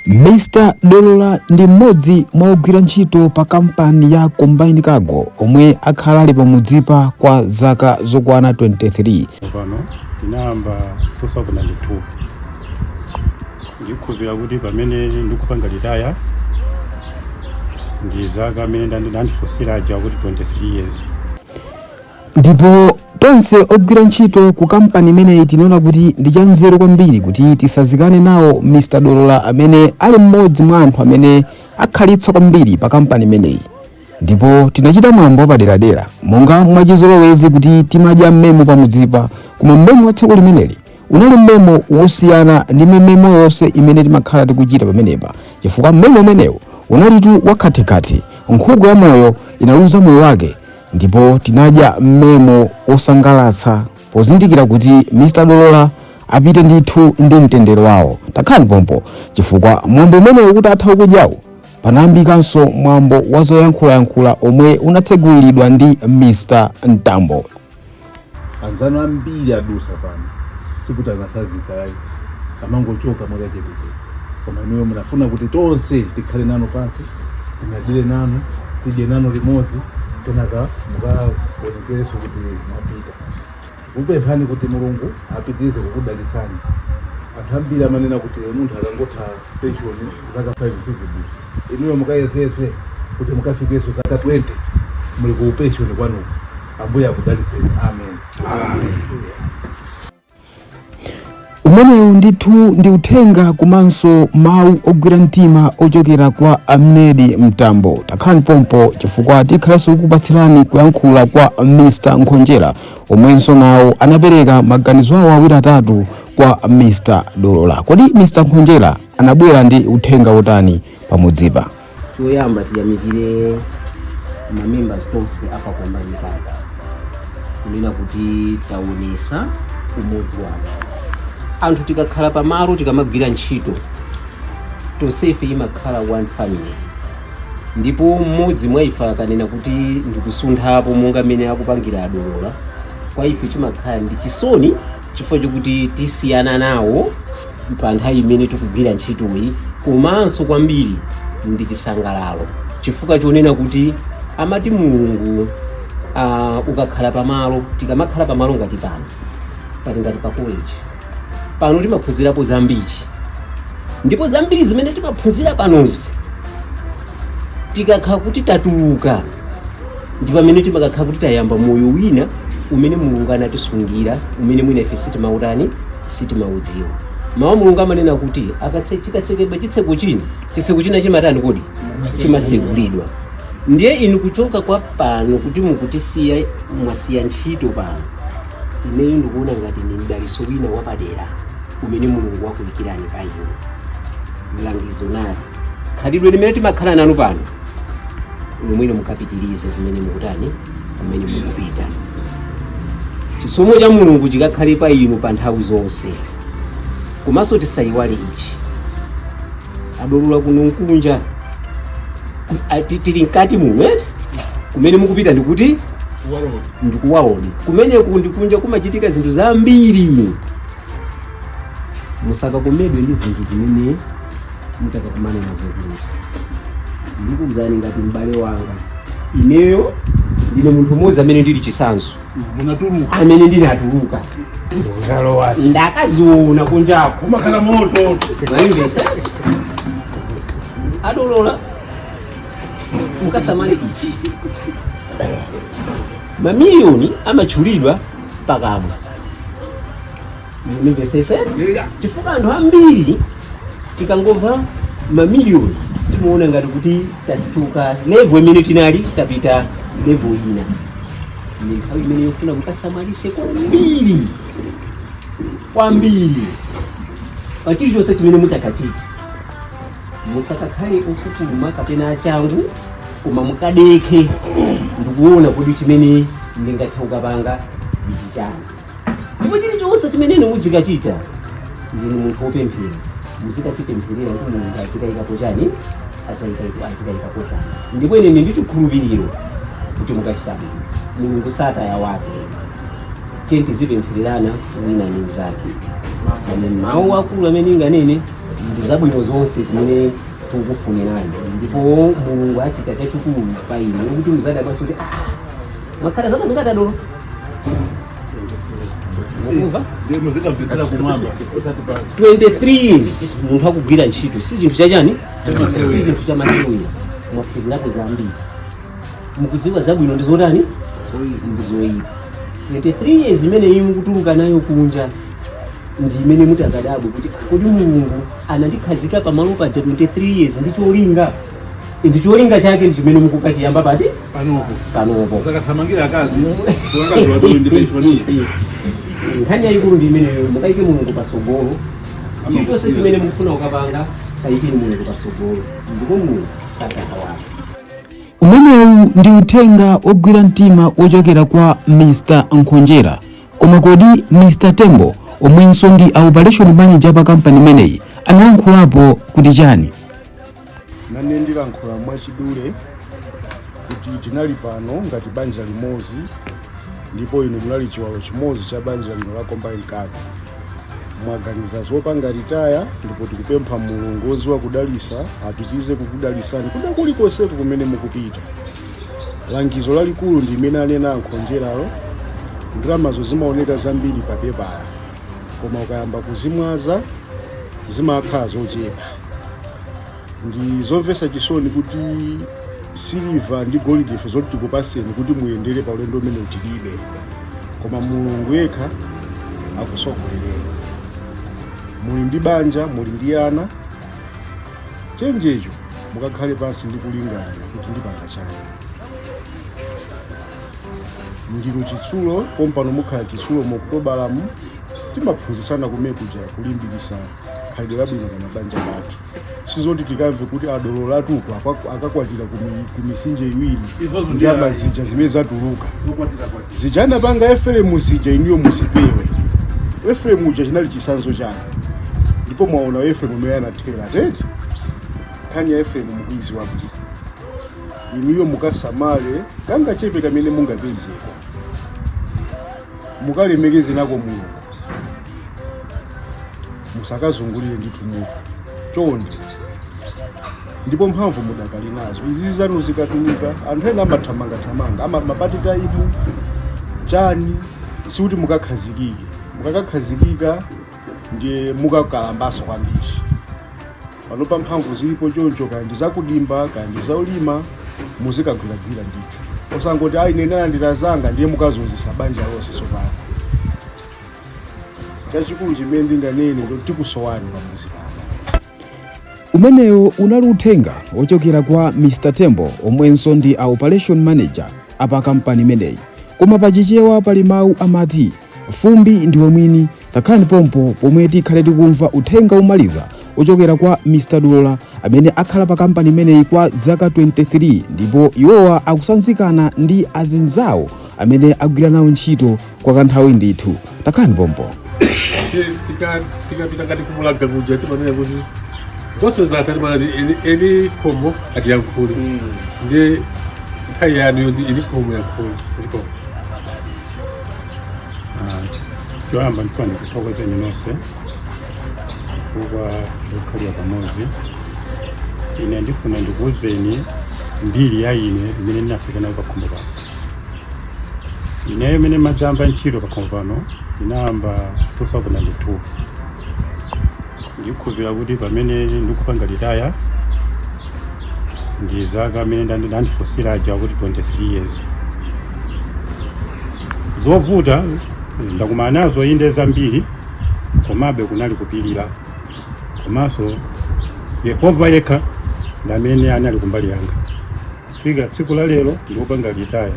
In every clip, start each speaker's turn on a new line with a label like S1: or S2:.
S1: Mr Dolola ndi mmodzi mwa ogwira ntchito pa kampani ya Combine Cargo omwe akhala ali pamudzipa kwa zaka zokwana 23. pano
S2: tinayamba 2002 ndikhulupira kuti pamene ndikupanga litaya ndi zaka amene mwandifusira aja kuti 23 years
S1: ndipo tonse ogwira ntchito ku kampani imeneyi tinaona kuti ndi chanzeru kwambiri kuti tisazikane nawo mr dolola amene ali mmodzi mwa anthu amene akhalitsa kwambiri pa kampani imeneyi ndipo tinachita mwambo wapaderadera monga mwachizolowezi kuti timadya mmemo pamudzipa koma mmemo wa tsiku limeneli unali mmemo wosiyana ndi mmemo yonse imene timakhala tikuchita pamenepa chifukwa mmemo umenewu unalitu wakhathikhathi nkhuku ya moyo inaluza moyo wake ndipo tinadya mmemo osangalatsa pozindikira kuti mr dolola apite ndithu ndi mtendere wawo takhalani pompo chifukwa mwambo umenewu utatha wakudyawu panayambikanso mwambo wa zoyankhulayankhula omwe unatsegulidwa ndi mr mtambo
S3: anzanu ambiri adusa pano sikuti anasazika ayi amangochoka mwakachetechete koma inuyo munafuna kuti tonse tikhale nanu pansi tinyadire nanu tidye nanu limodzi kenaka mukaonekereso kuti mwapita ndikupemphani kuti mulungu apitirize kukudalitsani anthu ambiri amanena kuti munthu akangotha penshoni zaka 5 sizidusa inuyo mukayesese kuti mukafikeso zaka 20 muli ku penshoni kwanuko
S1: Ambuye akudalitseni. Amen. umenewu ndithu ndi uthenga komanso mawu ogwira mtima ochokera kwa a Mnedi mtambo takhalani pompo chifukwa tikhalanso kukupatsirani kuyankhula kwa mr nkhonjera omwenso nawo anapereka maganizo awo awiri atatu kwa mr dolola kodi mr nkhonjera anabwera ndi uthenga wotani pamudzipa
S4: choyamba tiyamikire mamembers onse apa Combine Cargo kunena kuti taonesa umodzi wathu anthu tikakhala pamalo tikamagwira ntchito tonsefe imakhala one family ndipo mmodzi mwa ife akanena kuti ndikusunthapo monga mmene akupangira adolola kwa ife chimakhala ndi chisoni chifukwa chokuti tisiyana nawo pa nthawi imene tikugwira ntchitoyi komanso kwambiri ndi chisangalalo chifukwa chonena kuti amati mulungu uh, ukakhala pamalo tikamakhala pamalo ngati pano pali ngati pa college pano timaphunzirapo zambiri ndipo zambiri zimene timaphunzira panozi tikakhala kuti tatuluka ndi pamene timakakhala kuti tayamba moyo wina umene mulungu anatisungira umene mwina ife sitimautani sitimaudziwa mawu a mulungu amanena kuti akatse- chikatsekedwa chitseko china chitseko china chimatani kodi chimatsegulidwa ndiye inu kuchoka kwa pano kuti mukutisiya mwasiya ntchito pano ineyo ndikuona ngati ndi mdaliso wina wapadera umene mulungu wakuikirani pa inu mlangizo nawu khalidwe limene timakhala nanu pano lomwelo mukapitirize kumene mukutani kumene mukupita chisomo cha mulungu chikakhale pa inu pa nthawi zonse komanso tisayiwale ichi adolola kuno nkunja tili mkati muno kumene mukupita ndikuti ndikuwaodi kumeneku ndikunja kumachitika zinthu zambiri musakakomedwe ndi zinthu zimene mutakakumana nazo kuno ndikuuzani ngati m'bale wanga ineyo ndine munthu mmodzi amene ndili chitsanzo amene ndinatuluka ndakaziona kunjako umakhala
S3: moto mwamvetsa
S4: adolola mukasamale ichi mamiliyoni amatchulidwa pakamwa mumvesese chifukwa anthu ambiri tikangomva mamiliyoni timaona ngati kuti tadutsa levo imene tinali tapita levo ina ndi nthawi imene yofuna mukasamalise kwambiri kwambiri pa chilichonse chimene mutakachite musakakhale opupuluma kapena achangu koma mukadekhe ndikuona kuti chimene ndingathe kukapanga ichi nchani ndipo chilichonse chimene inu muzikachita ndinu munthu wopemphera muzikachipempherera kuti mulungu azikayikapo chani azikayikapo dzanja ndipo ine ndili ndi chikhulupiriro kuti mukachita bwino mulungu sataya wake tiye tizipemphererana wina ndi mnzake awa mawu akulu amene ndinganene ndi zabwino zonse zimene tikukufunirani ndipo mulungu achite chachikulu pa inu kuti muzadabwanso kuti "Ah, mwakhala zaka zingati adolola Mukumva? Ndiye muzikapitira kumwamba osati pansi. 23 years munthu akugwira ntchito si chinthu chachani Chamasewera. si chinthu chamasewera mwaphunzirapo zambiri mukudziwa zabwino ndi zotani ndi zoyipa 23 years imene inu mukutuluka nayo kunja ndi imene mutakadabwe kuti kodi mulungu anandikhazika pamalo paja 23 years ndi cholinga ndi cholinga chake ndi chimene mukukachiyamba pati panopo panopo zakathamangira akazi
S3: akazi wadolo ndi penshoni
S4: nkhani yayikulu ndi imeneyo mukayike mulungu pasogolo chilichonse chimene mukufuna kukapanga kayikeni mulungu pasogolo ndipo mulungu sakakaiwala
S1: umenewu ndi uthenga ogwira mtima ochokera kwa mr nkhonjera Koma kodi Mr Tembo omwenso ndi a operation manager pa kampani imeneyi anayankhulapo kuti chani?
S5: nane ndilankhula mwachidule kuti tinali pano ngati banja limodzi ndipo inu munali chiwalo chimodzi cha banja lino la combine cargo mwaganiza zopanga ritaya ndipo tikupempha mulungu woziwa kudalisa apitize kukudalisani kwina kulikonseko kumene mukupita langizo lalikulu ndi limene anena ankhonjeralo ndalamazo zimaoneka zambiri pa pepala koma ukayamba kuzimwaza zimakhala zochepa ndi zomvetsa chisoni kuti siliva ndi golide ife zoti tikupaseni kuti muyendere pa ulendo umenewu tilibe koma mulungu yekha akusogolereni muli ndi banja muli ndi ana choncho mukakhale pansi ndi kulingalira kuti ndipanga chani ndinu chitsulo pompano mukhala chitsulo mu okutobalamu timaphunzitsana kumekuja kulimbikisa khalidwe labwino pa mabanja pathu sizoti tikamve kuti adololatu uko akwa- akakwatira kumi- kumisinje iwiri Izozo ndi ndiyama ayi. zija zimene zatuluka zokwatira kwatira zija anapanga eferemu zija inuyo muzipewe eferemu uja chinali chisanzo chanu ndipo mwaona efremu mmene anathera eti nkhani ya efremu mukuiziwa bwino inuyo mukasamale kangachepe kamene mungapezeko mukalemekeze nako mulungu musakazungulire ndithu mutu chonde ndipo mphamvu mudakali nazo izi zanu zikatuluka anthu ena amathamangathamanga ama- mapati taimu chani sikuti mukakhazikike mukakakhazikika ndiye mukakalambanso kwambiri panopa mphamvu zilipo choncho kaya ndi zakudimba kaya ndi zaulima muzikagwiragwira ndithu osangoti ayi ine ndalandira zanga ndiye mukazunzisa banja lonse tsopano chachikulu chimene ndinganene ndikuti tikusowani pamuzi pano
S1: umenewo unali uthenga wochokera kwa mr tembo omwenso ndi a operation manager apa kampani imeneyi koma pa chichewa pali mawu amati fumbi ndiwe mwini takhalani pompo pomwe tikhale tikumva uthenga womaliza wochokera kwa mr dolola amene akhala pa kampani imeneyi kwa zaka 23 ndipo iwowa akusanzikana ndi azinzawo amene agwira nawo ntchito kwakanthawi ndithu takhalani pompo
S6: tikapita ngati kumulaga kuja timanena kuti zonse zatha timanati eni khomo atiyankhule ndiye nthawi yanu yoti eni khomo ayankhule zikomo
S2: choyamba ndifuna ndikuthokozeni nonse chifukwa chokhalira pamodzi ine ndifuna ndikuwuzeni mbiri ya ine imene ndinafika nayo pakhomo pano ineyo imene ndimadzayamba ntchito pakhomo pano ndinayamba 2002 ndikhulupira kuti pamene ndikupanga ritaya ndi zaka amene andifunsira aja kuti 23 years zovuta ndakumana nazo inde zambiri komabe kunali kupirira komanso yehova yekha ndamene anali kumbali yanga Kufika tsiku la lero ndikupanga retire.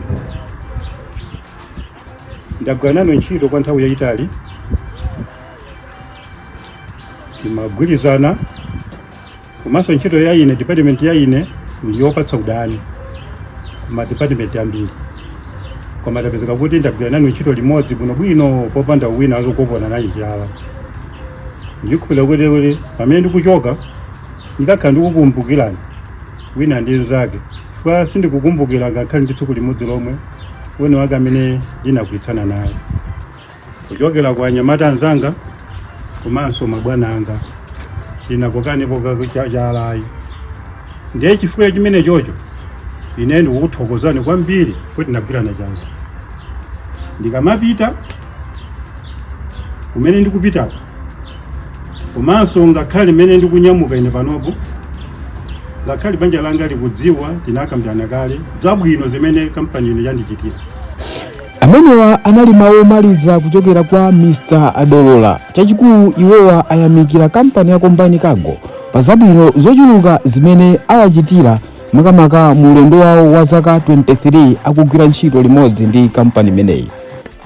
S2: Ndagwira nanu ntchito kwa nthawi yayitali, timagwirizana komanso ntchito ya ine department ya ine ndi yopatsa udani kuma department ambiri, koma tapezeka kuti ndagwira nanu ntchito limodzi bwinobwino popanda wina wina wokokana naye chala. Ndikhulupirira kuti kuti pamene ndikuchoka ndikakhala ndikukumbukirani wina ndi mnzake chifukwa sindikukumbukira ngakhale ndi tsiku limodzi lomwe wina wake amene ndinagwirizana naye kuchokera kwa anyamata anzanga komanso mabwana anga sitinakokanepo chala ayi ndiye chifukwa chimene chocho ine ndikukuthokozani kwambiri kuti tinagwirana chanza ndikamapita kumene ndikupitako komanso ngakhale mmene ndikunyamuka ine panopo ngakhale banja langa likudziwa tinakambirana kale zabwino zimene kampani ino yandichitira amenewa
S1: anali mawu omaliza kuchokera kwa mr dolola chachikulu iwowa ayamikira kampani ya combine cargo pa zabwino zochuluka zimene awachitira makamaka mu ulendo wawo wa zaka 23 akugwira ntchito limodzi ndi kampani imeneyi